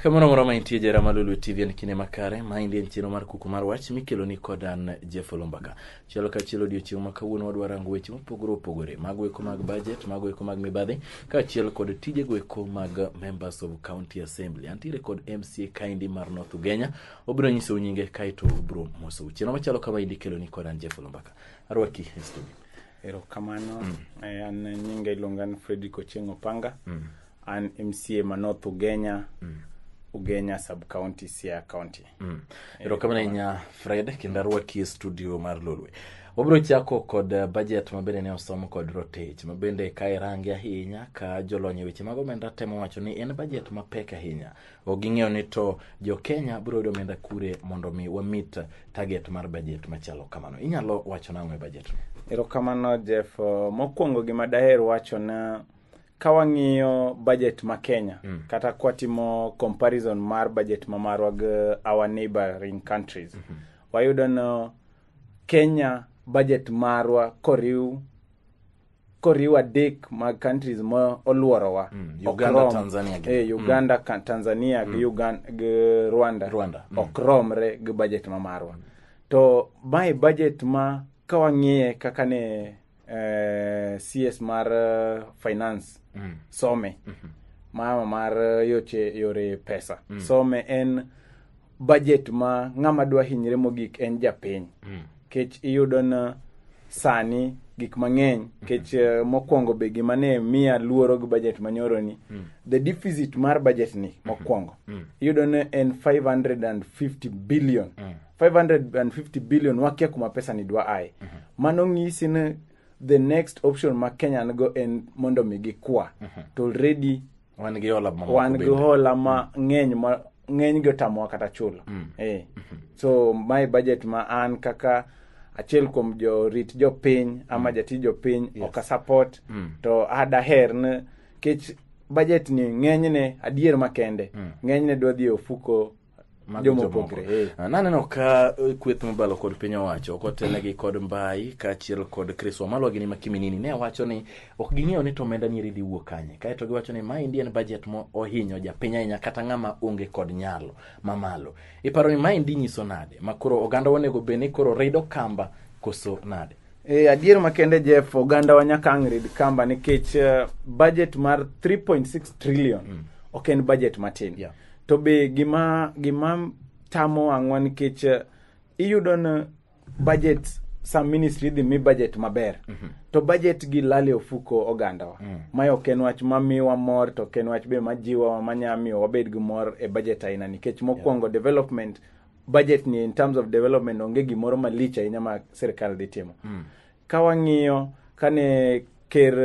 kamoro moro ma intie jera malulu tv en kinde makare ma indi en chenro mar kuku mar wach mikelo ni kod an jeff olombaka chielo ka chielo odiochieng' ma kawuono wadwa rango weche mopogore opogore mago eko mag budget mago eko mag mibadhi kaachiel kod tijego eko mag members of county assembly antiere kod mca kaindi mar north ugenya obiro nyisou nyinge kaeto obiro mosou chieno machalo kama idi keloni kod an jeff olumbaka arwaki e studio erokamano Eh, an nyinga iluonga ni fredrick ochieng opanga an mca ma north ugenya ugenya sub county sia county erokamano ahinya fred kendo arwaki e studio mar lolwe wabiro chako kod eh, budget ma bende ne osom kod rotich ma bende ka irange ahinya ka jolony e weche mag omenda temo wacho ni en budget mapek ahinya ok ging'eyo ni to jokenya biro yudo omenda kure mondo mi wamit target mar bajet machalo kamano inyalo wacho nang'o e bajet erokamano jeff mokwongo gima daher wacho na ka wang'iyo bajet ma kenya mm. kata kwatimo comparison mar bajet ma marwa gi our neighboring countries mm -hmm. wayudo no kenya bajet marwa koriw koriwo adek mag countries ma oluorowa mm, Uganda, okrom, Tanzania, gi, eh, mm. Uganda mm. Tanzania mm. gi, Uganda, gi Rwanda, Rwanda. Mm. ok romre gi budget ma marwa to mae budget ma ka wang'iye kaka ne eh, CS mar eh, finance mm. some mm -hmm. mama mar eh, yoche yore pesa mm. some en budget ma ng'ama dwa hinyre mogik en japiny kech iyudo na sani gik mang'eny kech eh, mokwongo be gima ne miya luoro gi budget manyoroni the deficit mar budget ni mokwongo iyudo ne en 550 billion 550 billion wakia kuma pesa ni dwa aye mano ng'isi ni the next option ma kenya nigo en mondo mi gikwa to already wan gi hola mamoko wan gi bende. hola ma ng'eny ma ng'eny gi otamowa kata chulo eh. so my budget ma an kaka achiel kuom jorit jopiny ama jatij jopiny ok asupport to adaher ni kech budget ni ng'enyne adier makende ng'enyne dwa dhi e ofuko Mago Joma jomoko. opogre, eh. Ah, Naneno ka eh, kweth mobalo kod piny owacho kotelnegi kod mbai kaachiel kod Chris Wamalwa gi Nima Kiminini ne wacho ni ok ging'eyo ni to omenda nieri dhi wuok kanye. Kaeto giwacho ni maendi en budget ma ohinyo japiny ahinya kata ng'ama onge kod nyalo mamalo. Iparo ni maendi nyiso nade ma koro oganda onego bed ni koro rido kamba koso nade? E, adier makende Jeff, oganda wa nyaka ang' rid kamba nikech uh, budget mar 3.6 trillion mm. ok en budget matin. Yeah. To be gima gima tamo ang'wa nikech uh, iyudo ni budget sa ministry idhi mi budget maber mm -hmm. to budget gi lale ofuko ogandawa mm. mae ok en wach mamiwa mor to ok en wach be majiwa manyamiyo wabed gi mor e budget aina nikech mokwongo yeah. development budget ni in terms of development onge gimoro malich ahinya ma sirkal dhi timo mm. ka wang'iyo kane ker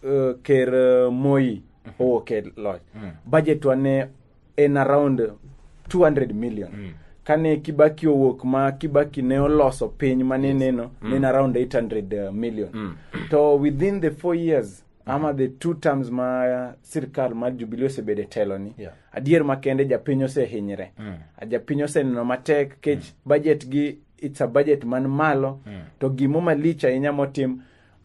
uh, ker uh, moi mm -hmm. owuok e loch mm. budget wa ne en around 200 million mm. kane kibaki owuok ma kibaki ne oloso piny ma nineno yes. mm. nen around 800 uh, million mm. to within the four years ama the two terms ma sirkal mar Jubilee osebedo e teloni Yeah. adier makende japiny osehinyre japiny oseneno matek kech budget gi it's a budget man malo to gimo malich ahinya motim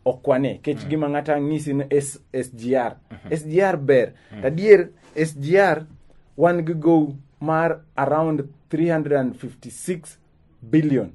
okwane kech gima ng'ata ng'isi ni S- SGR SGR ber to adier SGR wan gi gow mar around 356 billion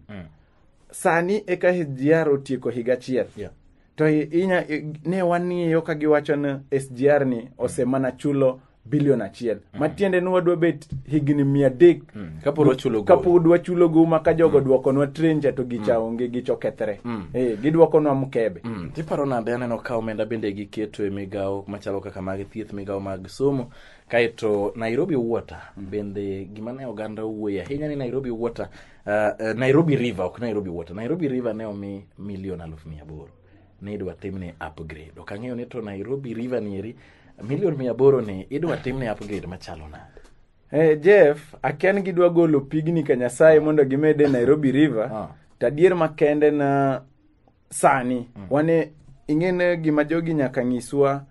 sani eka SGR otieko higa achiel Yeah. to i- inya i- ne wang'iyo ka giwacho ni SGR ni osemana chulo bilion achiel matiende ni wadwa bet higni mia adek kapod wachulo gowi. kapod wachulo gowi ma ka jogo dwokonwa trenja to gicha onge gicho kethre Eh, gidwokonwa mkebe Mm, tiparo nade aneno ka omenda bende giketo e migawo machalo kaka mag thieth migawo mag somo kaeto nairobi water bende gima ne oganda owuoye ahinya ni nairobi water Uh, uh, Nairobi River ok Nairobi Water. Nairobi River ne omi milion aluf mia aboro. Ne idwa timne upgrade. Ok ang'eyo ni to Nairobi River nieri milion mia aboro ni idwa timne upgrade machalo nade. Eh, Jeff, akia ni gidwa golo pigni ka Nyasaye mondo gimed e Nairobi River. Ah. To adier makende na sani mm. wane ing'ene gima jogi nyaka nyiswa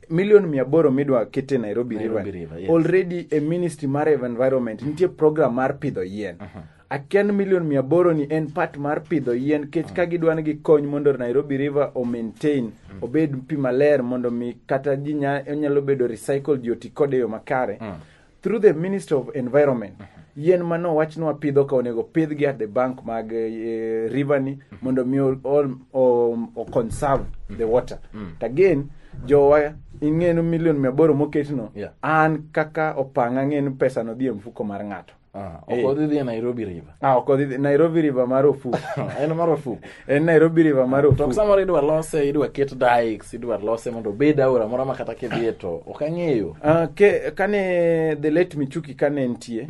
milion mia aboro midwa kete nairobi, nairobi river, river yes. already e ministry mar environment nitie program mar pidho yien uh -huh aken milion mia aboro ni en part mar pidho yien kech mm. ka gidwa ni gikony mondo nairobi river o maintain mm. obed pi maler mondo mi kata ji nyalo bedo recycle ji oti kode yo makare mm. through the minister of environment yien ma nowach ni wapidho ka onego pidhgi at the bank mag eh, river ni mondo mi o- o- o- o conserve the water to again jowa ing'enu milion mia aboro moketno Yeah. an kaka opanga ang'enu pesa no dhi e mfuko mar ng'ato Ah, ok odhi dhi e Nairobi River. ah, ok odhi nairobi river mar ofuko En marufuku. en nairobi river mar to ofuko samoro idwa lose idwa ket dikes idwa lose mondo obed aora moro ma kata kidhiye to ok ang'eyo Ah, ke- kane the late michuki kane entie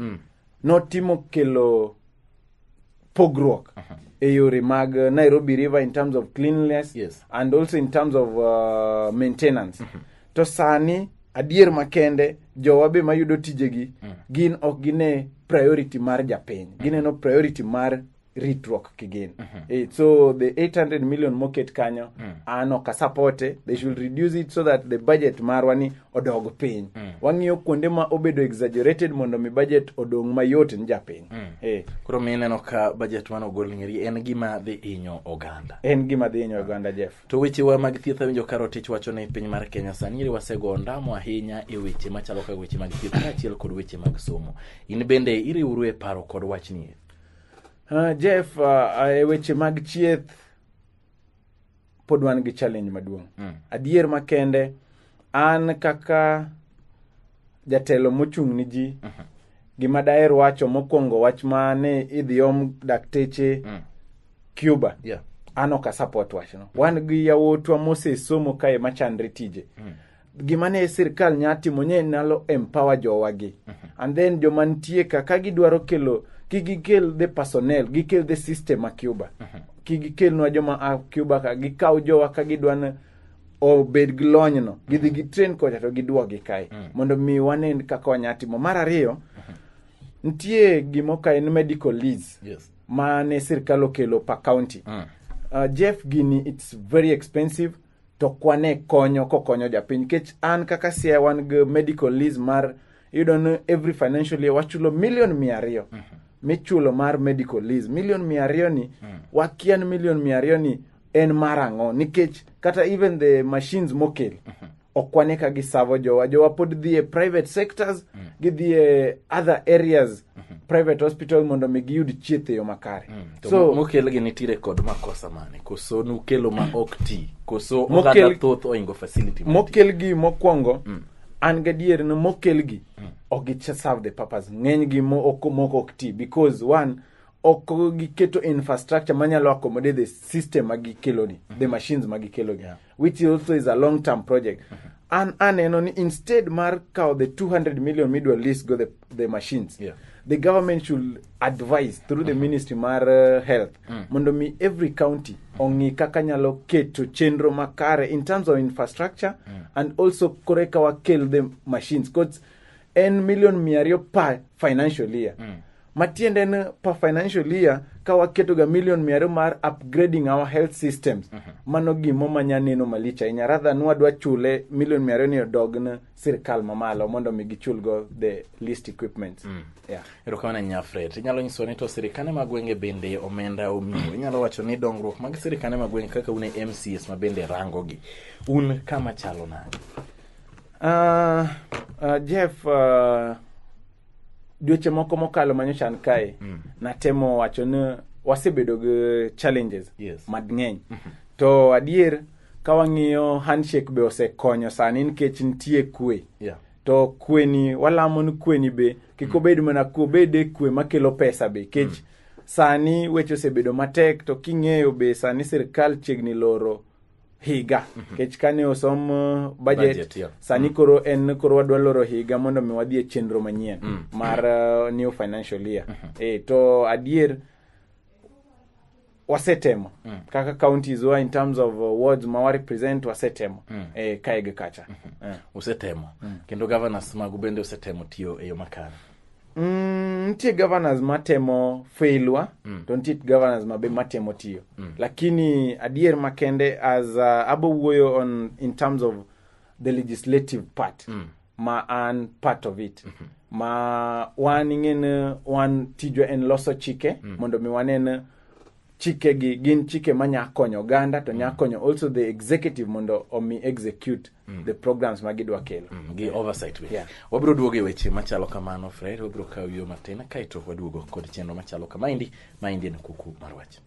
notimo kelo pogruok e yore mag uh, nairobi river in terms of cleanliness Yes. and also in terms of uh, maintenance to sani adier makende jowa be mayudo tijegi gin ok gine priority mar japiny gineno priority mar ritruok kigin Eh, so the 800 million moket kanyo an ok asapote they should reduce it so that the budget marwa ni odog piny wang'iyo kuonde ma obedo exaggerated mondo mi budget odong mayot ni japiny Eh, koro mi ineno ka bajet mane ogol ng'eri en gima dhi hinyo oganda en gima dhi hinyo oganda jeff to wechewa mag thieth awinjo ka rotich wacho ni piny mar kenya sani iri wasego ondamo ahinya e weche machalo kaka weche mag thieth kaachiel kod weche mag somo in bende iriwru e paro kod wachni Uh, Jeff, uh, e weche mag chieth pod wan gi challenge maduong'. Mm. Adier makende an kaka jatelo mochung' ni ji mm -hmm. gima daher wacho mokwongo wach ma ni idhi om dakteche mm. Cuba. Yeah. An ok asapot wachno. Mm. Wan gi yawotwa mosesomo kae machandre tije. Mm. gima ne sirkal nya timo nye nalo empower jowagi and then joma nitie ka ka gidwaro kelo ki gikel the personnel gikel the system a cuba ki gikelnwa joma a cuba ka gikaw jowa ka gidwana obed gi lonyno gidhi gi train kocha to gidwogi kae mondo mi wane kaka wanya timo mar ariyo nitie gimo ka en medical lease Yes. ma ne sirkal okelo per county Mm. uh, jeff gini it's very expensive to kwane konyo kokonyo japiny nikech an kaka sia wan gi medical lease mar iyudo ni every financial year wachulo milion mia ariyo michulo mar medical lease milion mia ariyo ni wakia ni milion mia ariyo ni en mar ang'o nikech kata even the machines mokel ok wane ka gisavo jowa jowa pod dhi e private sectors gidhi e other areas private hospital mondo mi giyud chieth e yo makare To so mokelgi nitiere kod makosa mane koso nukelo ma ok ti koso Mokel- oganda thoth oingo facility ma ti. mokelgi mokwongo an gadier ni mokelgi ok gi serve the purpose ng'enygi mo- ok- moko ok ti because one ok giketo infrastructure manyalo accommodate the system ma gikeloni the machines ma gikeloni which also is a long term project an aneno ni instead mar kawo the 200 million midwa lease go the, the machines Yeah. the government should advise through the ministry mar uh, health mondo mi every county ong'i kaka nyalo keto chenro makare in terms of infrastructure and also kore ka wakel the machines cause en million mia ariyo per financial year matiende en per financial year ka waketo ga million mia ariyo mar upgrading our health systems mano gimo manya neno malich ahinya rather than wadwa chule million mia ariyo ni odog ne sirikal mamalo mondo mi gichul go the least equipment yeah. erokamano ahinya fred inyalo nyiso ni to sirikane mag gwenge bende omenda omiyo inyalo wacho ni dongruok mag sirikane mag gwenge kaka un e mcs ma bende rangogi un kama chalo nade Ah, ah, jeff ah, dweche moko mokalo manyocha kae mm. natemo wacho ni wasebedo gi challenges yes. madng'eny mm -hmm. to adier ka wang'iyo handshake be osekonyo sani nikech nitie kwe yeah. to kweni walamo ni kweni be kik mm. obed mana kwe obede kwe makelo pesa be kech mm. sani weche osebedo matek to king'eyo be sani sirikal chiegni loro higa nikech kane osom uh, budget, Budget, yeah. sani koro en koro wadwa loro higa mondo mi wadhi e chenro manyien mar uh, new financial year e, to adier wasetemo kaka counties wa in terms of uh, wards ma warepresent wasetemo e, kae gi kacha Eh. usetemo kendo governors magu bende usetemo tiyo e yo makare Mm, nitie governors matemo failwa mm. to nitie governors mabe matemo tiyo mm. lakini adier makende as uh, abo wuoyo on in terms of the legislative part mm. ma an part of it mm-hmm. ma wan ing'en wan tijwa en loso chike mm. mondo mi wanen chikegi gin chike ma nya konyo oganda to nya konyo also the executive mondo omi execute the programs ma gidwa kelo gi oversight be Yeah. wabiro duogo e weche machalo kamano fred wabiro kawo yo matin kaeto waduogo kod chenro machalo kamaendi maendi en kuku mar wach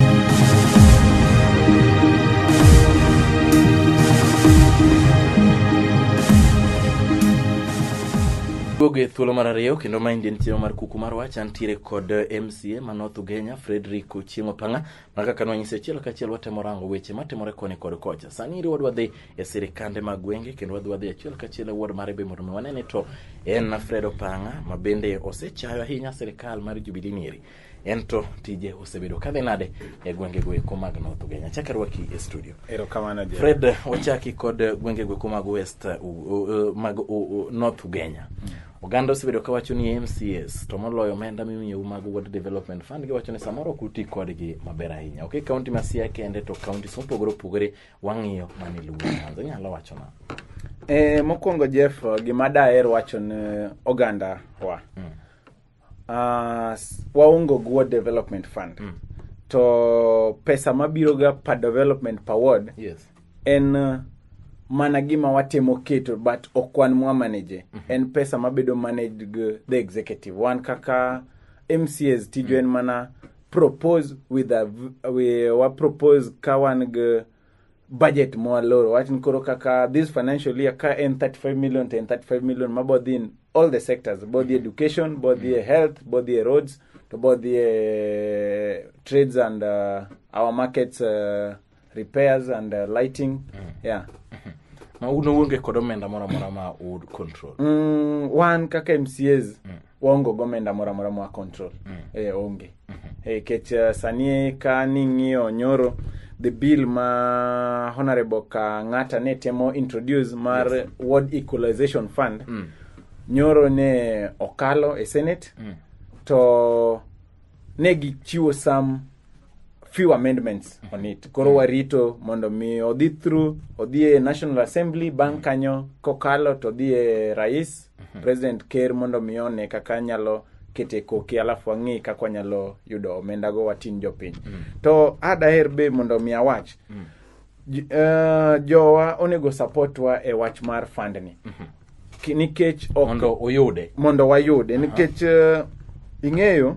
duogo e thuolo mar ariyo kendo maendi en chenro mar kuku mar wach antiere kod eh, mca ma north ugenya Frederick Ochieng' Opanga mana kaka nwanyise achiel kachiel watemo rango weche matimore koni kod kocha. Sani iri wadwa dhi e sirikande mag gwenge kendo wadwa dhi achiel kachiel e ward mare be mondo mi wanene to en Fred Opanga ma bende osechayo ahinya sirikal mar Jubilee nieri. En to tije osebedo kadhi nade e gwenge go eko mag North Ugenya. Chaka rwaki e studio. Erokamano Jerry. Fred wachaki kod gwenge go eko mag West uh, uh, mag uh, uh, North Ugenya. Oganda osebedo ka wacho ni MCS to moloyo omenda mimiyou mag Water Development Fund giwacho ni samoro ok uti kodgi maber ahinya. Ok e kaunti ma Siaya kende to kauntis mopogore opogore wang'iyo mani luwo Nyanza. Inyalo wacho na. E, mokwongo Jeff, gima daher wacho ne oganda wa mm. uh, waongo gi Water Development Fund mm. to pesa mabiroga per development per ward yes. en uh, mana gima watemo keto but ok wan mwa manage mm -hmm. en pesa mabedo managed gi the executive wan kaka mcs tijo mm -hmm. en mana propose with a, we, wa propose ka wan gi budget moa loro wachni koro kaka this financial year ka en 35 million to en 35 million mabodhi in all the sectors bodhi mm -hmm. education bodhi mm -hmm. health bodhi roads to bodhi trades and uh, our markets uh, repairs and uh, lighting mm. yeah ma un uonge kod omenda moro amora ma u control mm, wan kaka mcas mm. waonge gi omenda moro amora ma control mm. e, onge e, kech uh, sani ka ning'iyo nyoro the bill ma honorable kang'ata ne temo introduce mar yes. ward equalization fund mm. nyoro ne okalo e senate mm. to ne gichiwo some few amendments on it koro warito mondo mi odhi through odhi e national assembly bang' kanyo kokalo to odhi e rais president ker mondo mi one kaka nyalo kete koki alafu wang'i kaka wanyalo yudo omendago watin jopiny to adaher be mondo mi awach J- eh, jowa onego supportwa e wach mar fund ni Ki- nikech ok mondo uyude mondo wayude nikech eh, ing'eyo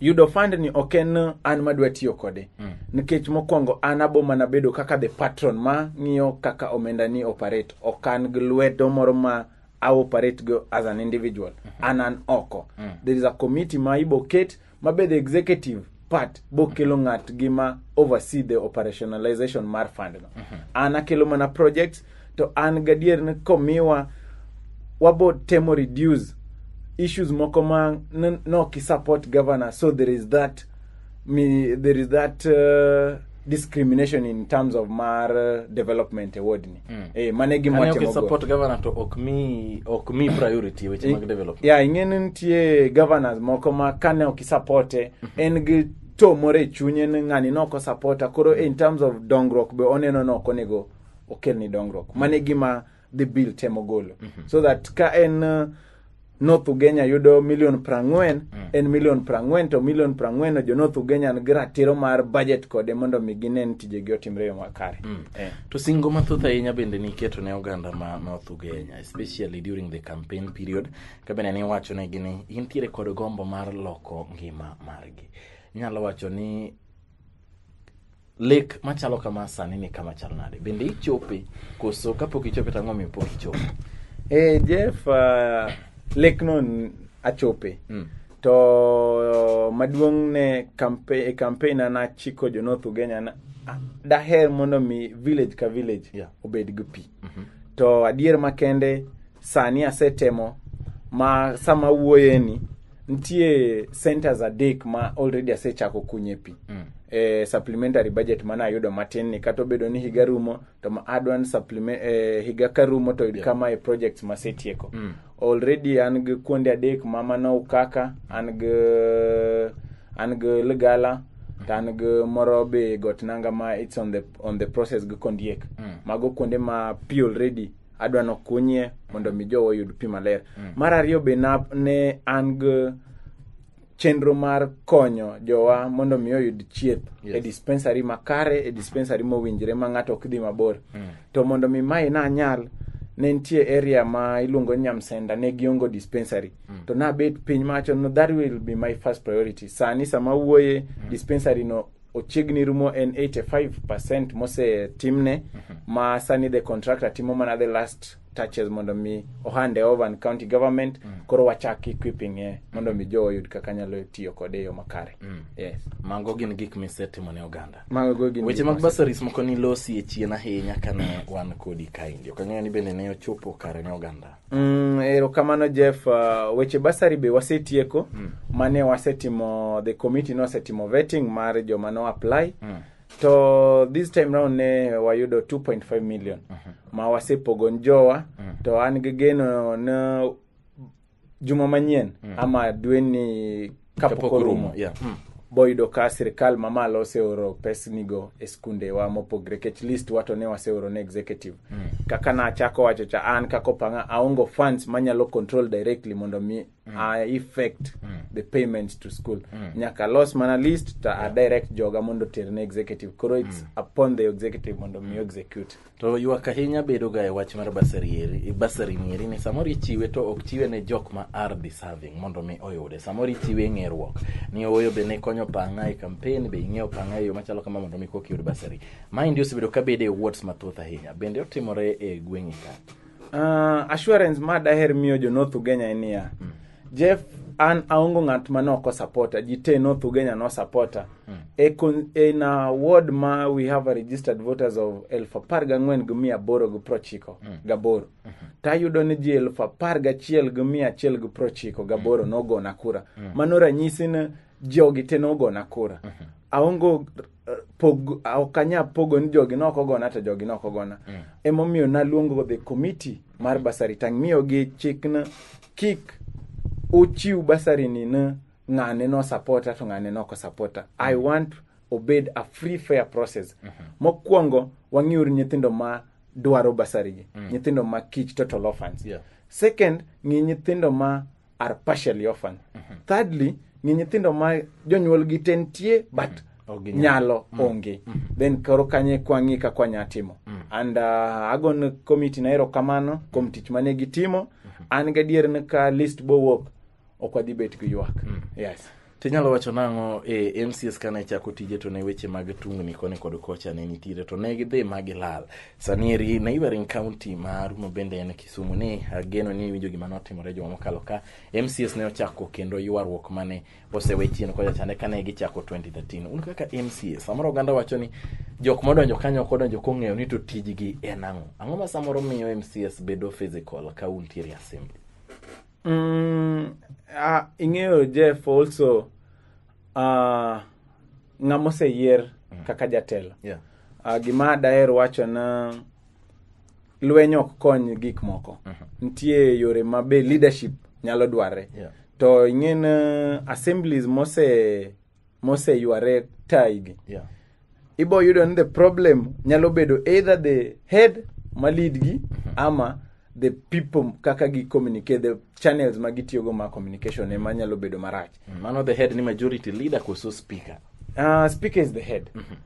yudo fund ni ok en eh, an madwa tiyo kode nikech mokwongo an abo mana bedo kaka the patron ma ng'iyo kaka omenda ni operate ok an gi lwedo moro ma a operate go as an individual an an oko there is a committee ma ibo ket ma be the executive part bokelo ng'at gi ma oversee the operationalization mar fund no an akelo mana projects to an gadier ni komiwa wabo temo reduce issues moko ma n- noki support governor so there is that mi, there is that uh, discrimination in terms of mar uh, development e wardni mm. eh, mano e gima watimogo support governor to ok mi ok mi priority e weche mag development ya yeah, ing'eni nitie governors moko ma kane ok isapote mm -hmm. en gi to moro e chunye ni ng'ani ne ok osapota koro in terms of dongruok be oneno ni ok onego okelni dongruok mano e gima dhi bill temo golo so that ka en uh, north ugenya yudo milion prang'wen en milion prang'wen to milion prang'wen no jo north ugenya nigi ratiro mar budget kode mondo mi gine ni tijegi otimre e yo makare Eh. to singo mathoth ahinya bende niketo ne oganda ma north ugenya especially during the campaign period ka bende niwacho negi ni intiere kod gombo mar loko ngima margi inyalo wacho ni Lek machalo kama sani ni kama chal nade? Bende ichope koso kapok ichope to ang'o miyo pok ichope? Eh, Jeff, uh, lekno n- achope Mm. to uh, maduong' ne kampe, e kampen an achiko jo North Ugenya na a- daher mondo mi village ka village Yeah. obed gi pi to adier makende sani asetemo ma sama wuoyeni nitie centers adek ma already asechako kunye pi e supplementary budget mana ayudo matin ni kata obedo ni higa rumo to ma adwan supplement eh, higa ka rumo to kama e projects masetieko Already an gi kuonde adek ma mano Ukaka, an gi an gi Ligala, to an gi moro be got nanga ma it's on the on the process gi Kondiek. Mm. Mago kuonde ma pi already adwa ni okunyie mondo mi jowa oyud pi maler. Mm. Mar ariyo be na, ne an gi chenro mar konyo jowa mondo mi oyud chieth yes. e dispensary makare e dispensary mowinjre ma ng'ato ok dhi mabor mm. to mondo mi mae na nyal ne nitie area ma iluongo nyamsenda ne giongo dispensary mm. to nabet piny macho no that will be my first priority sani sama wuoye mm. dispensary no ochiegni rumo en 85 percent mosetimne mm -hmm. ma sani the contractor timo mana the last touches mondo mi ohand e Ovan County Government koro wachak equipping e mondo mi jowa oyud kaka nyalo tiyo kode e yo makare. Yes. Mago gin gik misetimo ne oganda. Mago gin Weche gik mag mose- basaris moko nilosi e chien ahinya kane wan kodi kaendi. Ok ang'eyo ni bende ne ochopo kare ne oganda. Mm, erokamano Jeff, uh, weche basari be wasetieko mane wasetimo the committee nosetimo vetting mar joma no apply Mm. to this time round ne wayudo 2.5 million ma wasepogo ni jowa to an gi geno na juma manyien ama dwe ni kapok Kapok orumo orumo, yeah. boyudo ka sirikal mamalo oseoro pesnigo e skundewa mopogre kech list wa to ne waseoro ne executive kaka nachako wacho cha an kaka opanga aongo funds manyalo control directly mondo mi a effect the payments to school nyaka los mana list to a direct joga mondo ter ne executive koro it's upon the executive mondo mi execute to ywak ahinya bedoga e wach mar basari eri- basari ni eri ni samoro ichiwe to ok chiwe ne jok ma are deserving mondo mi oyude samoro ichiwe e ng'eruok ni owoyo be ne konyo pang'a e campaign be ing'eyo pang'a e yo machalo kama mondo mi koki yud basari maendi osebedo ka bede e wards mathoth ahinya bende otimore e gweng'i ka Uh, assurance ma daher miyo jo North Ugenya en niya. Jeff an aongo ng'at ma ne ok osapota ji te North Ugenya ne osapota e con- in a ward ma we have a registered voters of elfu apar gang'wen gi mia aboro gi prochiko gaboro tayudo ni ji elfu apar gachiel gi mia achiel gi prochiko gaboro nogona kura mano ranyisi ni jogi te nogona kura aongo pog ok anya pogo ni jogi noko gona to jogi noko gona mm. emomiyo naluongo the committee mar basari tang'miyogi chikna kik uchiw basari ni ne ng'ane no supporta to ng'ane noko supporta i mm. want obed a free fair process mm -hmm. mokwongo wang'iuru nyithindo ma dwaro basarigi mm. nyithindo ma kich total orphans yeah. second ng'i nyithindo ma are partially orphan thirdly ni nyithindo ma jonyuolgi te nitie but Ok ginyal. nyalo onge then koro kanye kwang'i ka kwanya timo and uh, agon komiti na erokamano kuom tich mane gitimo an gadier ni ka list bowuok ok wadhi bet gi ywak yes To inyalo wacho nang'o e eh, MCS kane chako tije to ne weche mag tungni koni kod kocha ne nitiere to ne gidhi ma gilal. Sani eri neighboring county ma Rumo bende en Kisumu ni ageno ni iwinjo gima notimore juma mokalo ka MCS ne ochako kendo ywaruok mane osewe chien kocha chande kane gichako 2013. Un kaka MCS samoro oganda wacho ni jok modonjo kanyo ok odonjo kong'eyo ni to tijgi en ang'o. Ang'o ma samoro miyo MCS bedo physical ka untiere assembly? Mm, ah, ing'eyo Jeff also ah, ng'ama oseyier kaka jatelo. Yeah. Ah, gima daher wacho na lweny ok kony gik moko. Nitie yore ma be leadership nyalo dwarre. Yeah. To ing'e na assemblies mose moseyware taigi Yeah. ibo yudo ni the problem nyalo bedo either the head ma lead gi ama the people kaka gi communicate the channels ma gitiyogo ma communication ema nyalo bedo marach Mano the head ni majority leader koso speaker. uh, speaker is the head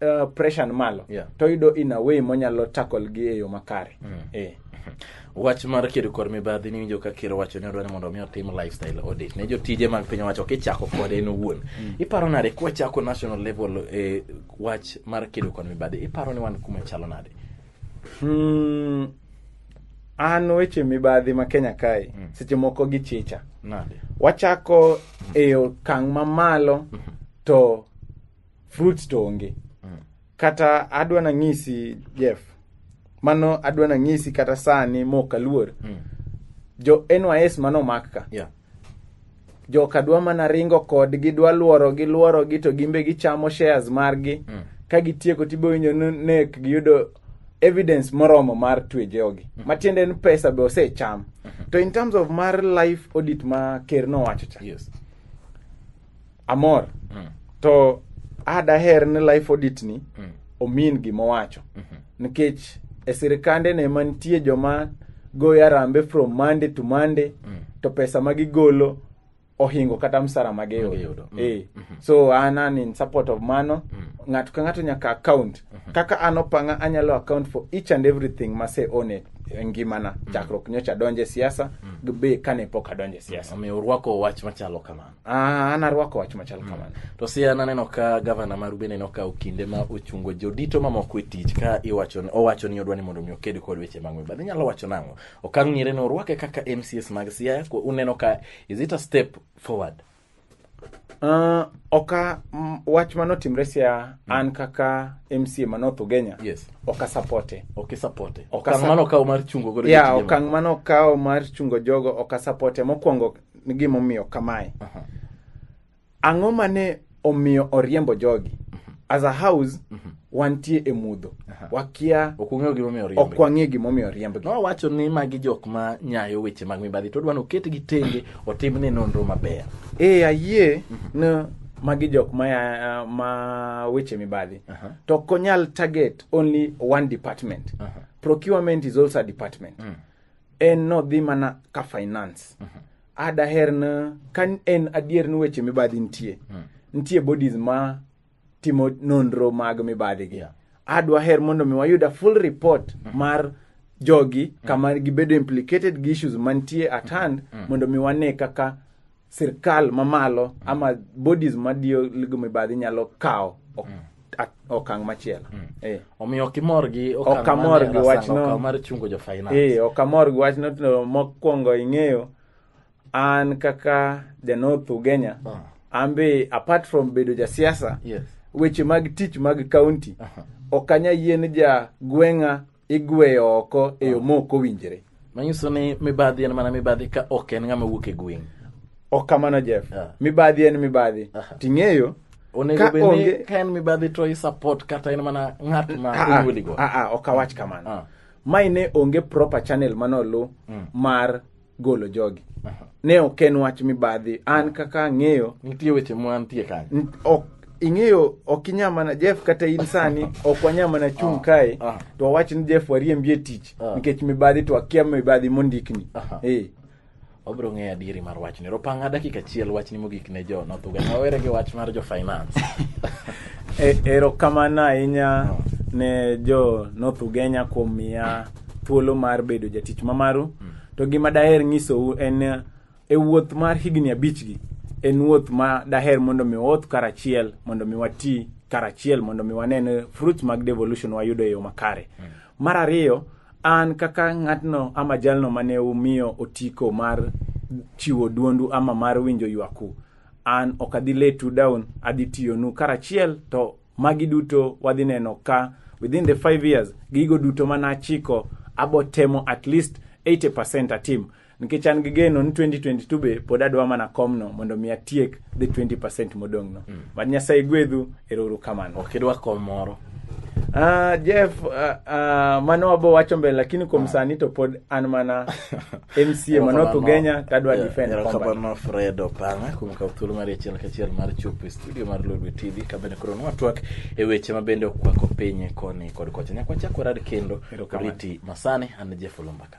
uh, pressure ni malo Yeah. to yudo in a way monyalo tackle gi e yo makare eh. wach mar kedo kod mibadhi niwinjo ka ker owacho ni odwa ni mondo omi otim lifestyle audit ne jotije mag piny owacho kichako kode en owuon iparo nade kwachako national level e wach mar kedo kod mibadhi iparo ni wan kuma chalo nade Hmm, an weche mibadhi ma kenya kae seche moko gichicha nade wachako e okang' mamalo to fruits to onge kata adwa nang'isi jeff mano adwa nang'isi kata sani mok aluor jo nys mano mak ka Yeah. joka dwa mana ringo kodgi dwa lworogi lworogi to gimbe gichamo shares margi Mm. ka gitieko tibowinjo ni nek giyudo evidence moromo mar twe jogi matiende ni pesa be osecham to in terms of mar life audit ma ker nowacho cha Yes. amor mm. to adaher ni life audit ni mm. omin gima owacho mm -hmm. nikech e sirikande ne mantie joma goyo arambe from monday to monday mm. to pesa ma gigolo ohingo kata msara ma giyudo mm. eh. mm -hmm. so an an in support of mano mm. ng'ato ka ng'ato nyaka account mm -hmm. kaka an opanga anyalo account for each and everything mase one e ngimana mm. chakruok nyocha adonje siasa mm. be kane pok adonje siasa mm. omiyo urwako wach machalo kamano Ah, an arwako wach machal mm. kamano to si an aneno ka gavana maru bende nokawo kinde ma ochungo jodito mamoko e tich ka iwacho owacho ni odwa ni mondo mi oked kod weche mag mibadhi inyalo wacho nang'o okang' ng'ire ni orwake kaka mcs mag siaya uneno ka is it a step forward Uh, oka m, wach manotimre sia mm. an kaka mca ma north ugenya yes. oka sapote oka sapote okang' mano okawo mar chungo godo yeah, okang' mano okawo mar chungo jogo oka sapote mokwongo ni gimomiyo kamae ang'o mane omiyo oriembo jogi as a house wantie e mudho wakia ok ung'eyo gimomiyo ok oriembe wang'e gimomiyo oriembgi nowacho ni magi jok ma nyayo weche mag mibadhi to odwa ni oketgi tenge otimne nonro maber e ayie ni magi jok ma, ya- ma weche mibadhi Aha. to ok onyal target only one department Aha. procurement is also a department en nodhi mana ka finance mm -hmm. adaher na ka en adier ni weche mibadhi nitie mm. nitie bodies ma timo nonro mag mibadhi gi yeah. adwa her mondo mi wayuda full report mm -hmm. mar jogi mm. kama gibedo implicated gi issues mantie at hand mm. mondo mi wane kaka sirkal mamalo ama bodies madiyo ligo mibadhi nyalo kawo ok- Mm. ak- okang' machielo Eh. omiyo ok imor gi Ok okang' amor mane gi Arsenal wachno. okawo mar chungo jo finance Eh, ok amor gi wachno to mokwongo ing'eyo an kaka janoth ugenya Ah, an be apart from bedo jasiasa yes weche mag tich mag kaunti Aha. ok anya yien ja gweng'a igweyo oko e yo ma ok owinjre manyiso ni mibadhi en mana mibadhi ka ok en ng'ama wuok e gweng' ok kamano jeff Ah. mibadhi en mibadhi Aha. ting'eyo onego Ka bed ni onge- ka en mibadhi to isupport kata en mana ng'at ma Ah, ah, onyuoligo ah, ah, ok awach kamano Ah. mai ne onge proper channel manolu mar golo jogi ne ok en wach mibadhi an kaka ang'eyo nitie weche mwantie kanyo n- ok ing'eyo ok inya mana jeff kata in sani ok wanya mana chung' kae ah. to wawach ni jeff wariembi e tich Ah. nikech mibadhi to akia mibadhi mondikni Aha. Eh. wabiro ng'eyo adieri mar wachni ropanga dakika achiel wachni mogik ne jo nothuga wawere gi wach mar jo finance E- erokamano ahinya ne jo north ugenya kuom miya thuolo mar bedo jatich ma maru to gima daher nyisou en eh, e wuoth mar higni abichgi en wuoth ma daher mondo mi waoth karachiel mondo mi wati karachiel mondo mi wanen fruits mag devolution wayudo e yo makare mar ariyo an kaka ng'atno ama jalno mane umiyo otiko mar chiwo duondu ama mar winjo ywaku an ok adhi letu down adhi tiyonu karachiel to Magi duto wadhi neno ka within the five years gigo duto mane achiko abotemo at least 80% atim nikech an gi geno ni 2022 be pod adwa mana komno mondo mi atiek the 20% modong'no mm. mad nyasaye gwedhu erouru kamano ok idwa kom moro Ah, Jeff, ah, ah, mano wabo wacho mbele lakini kuom sani to pod an mana mca manok ugenya tadwa defend combat erokamano fred opanga kuom kawo thuolo mar achiel kachiel mar chopo e studio mar lolwe tv kabende koro nwatwak e weche mabende okwako piny koni kod kocha nyakwachako rad kendo Erokamano. riti masani an jeff olumbaka